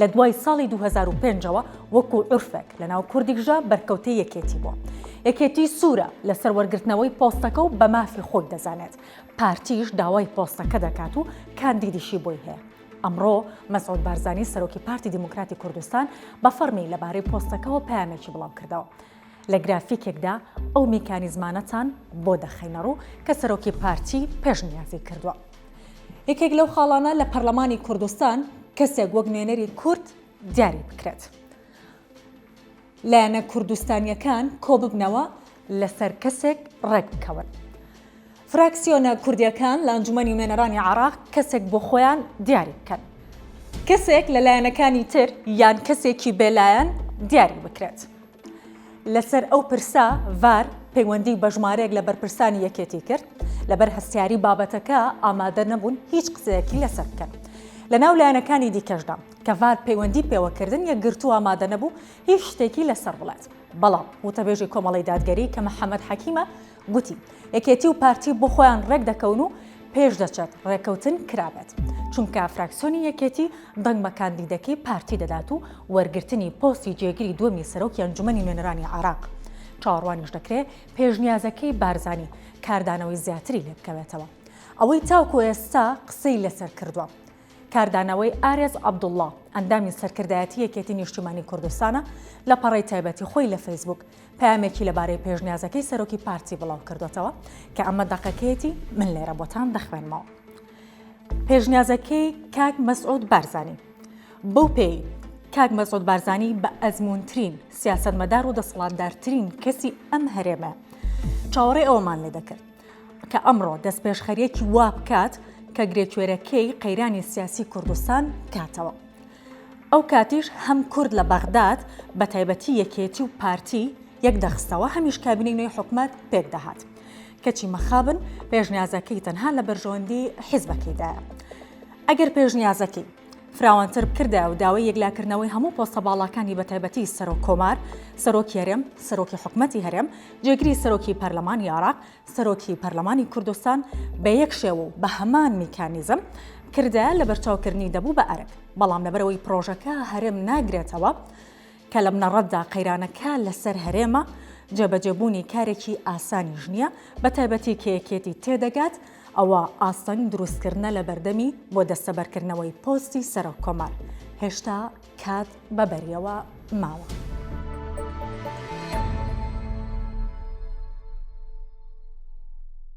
لە دوای ساڵی دوو هەزار و پێنج ەوە وەکو عورفێک لە ناو کوردیکژە بەرکەوتەی یەکێتی بووە. یەکێتی سوورە لەسەر وەرگرتنەوەی پۆستەکە و بە مافی خۆی دەزانێت. پارتیش داوای پۆستەکە دەکات و کاندیدیشی بۆی هەیە. ئەمڕۆ مەسعود بارزانی سەرۆکی پارتی دیموکراتی کوردستان بە فەڕمی لەبارەی پۆستەکەوە پەیامێکی بڵاوکردەوە. لە گرافیکێکدا ئەو میکانیزمانەتان بۆ دەخەینەڕوو کە سەرۆکی پارتی پێشنیازی کردووە. یەکێک لەو خاڵانە لە پەرلەمانی کوردستان کەسێک وەک نوێنەری کورد دیاری بکرێت. لایەنە کوردستانییەکان کۆببنەوە لەسەر کەسێک ڕێکبکەون. فراکسیۆنە کوردیەکان لە ئەنجومەنی نوێنەرانی عێراق کەسێک بۆ خۆیان دیاری بکەن. کەسێک لە لایەنەکانی تر یان کەسێکی بێلایەن دیاری بکرێت. لەسەر ئەو پرسە ڤار پەیوەندی بە ژمارەیەک لە بەرپرسانی یەکێتی کرد لەبەر هەستیاری بابەتەکە ئامادە نەبوون هیچ قسەیەکی لەسەر بکەن. لە ناو لایەنەکانی دیکەشدا کە ڤار پەیوەندی پێوەکردن یەکگرتوو ئامادە نەبوو هیچ شتێکی لەسەر بڵێت. بەڵام وتەبێژی کۆمەڵەی دادگەری کە محەمەد حەکیمە، گوتی، یەکێتی و پارتی بۆ خۆیان ڕێک دەکەون و پێش دەچێت ڕێککەوتن کرابێت، چونکە فراکسیۆنی یەکێتی دەنگ بە کاندیدەکەی پارتی دەدات و وەرگرتنی پۆستی جێگری دووەمی سەرۆکی ئەنجومەنی نوێنەرانی عێراق چاوەڕوانیش دەکرێت پێشنیازەکەی بارزانی کاردانەوەی زیاتری لێبکەوێتەوە ئەوەی تاکو ئێستا قسەی لەسەر کردووە. کاردانەوەی ئارێز عەبدوڵڵا، ئەندامی سەرکردایەتی یەکێتی نیشتیمانی کوردستانە، لە پەڕەی تایبەتی خۆی لە فەیسبووک پەیامێکی لەبارەی پێشنیازەکەی سەرۆکی پارتی بڵاوکردووەتەوە کە ئەمە دەقەکەیەتی من لێرە بۆتان دەخوێنمەوە. پێشنیازەکەی کاک مەسعود بارزانی بەو پێی کاک مەسعود بارزانی بە ئەزمونترین سیاستمەدار و دەسەڵاتدارترین کەسی ئەم هەرێمە چاوەڕێ ئەوەمان لێ دەکرد کە ئەمڕۆ دەستپێشخەریەکی وا بکات کە گرێکوێرەکەی قەیرانی سیاسی کوردستان بکاتەوە. ئەو کاتیش هەم کورد لە بەغداد بە تایبەتی یەکێتی و پارتی یەک دەخستەوە هەمیش کابینەی نوێی حکومەت پێک دەهات. کەچی مەخابن پێشنیازەکەی تەنها لە بەرژەوەندی حیزبەکەیدایە. ئەگەر پێشنیازەکەی. فراوانتر بکردایە و داوای یەکلاکردنەوەی هەموو پۆستە باڵاکانی بە تایبەتی سەرۆک کۆمار، سەرۆکی هەرێم، سەرۆکی حکومەتی هەرێم، جێگری سەرۆکی پەرلەمانی عێراق، سەرۆکی پەرلەمانی کوردستان بە یەک شێوە و بە هەمان میکانیزم بکردایە لەبەرچاوکردنی دەبوو بە ئەرک، بەڵام لەبەرئەوەی پرۆژەکە هەرێم ناگرێتەوە، کە لە بنەڕەتدا قەیرانەکە لەسەر هەرێمە، جێبەجێبوونی کارێکی ئاسانیش نییە، بەتایبەتی کە یەکێتی تێدەگات ئەوە ئاستەنگ دروستکردنە لە بەردەمی بۆ دەستەبەرکردنەوەی پۆستی سەرۆککۆمار، هێشتا کات بەبەریەوە ماوە.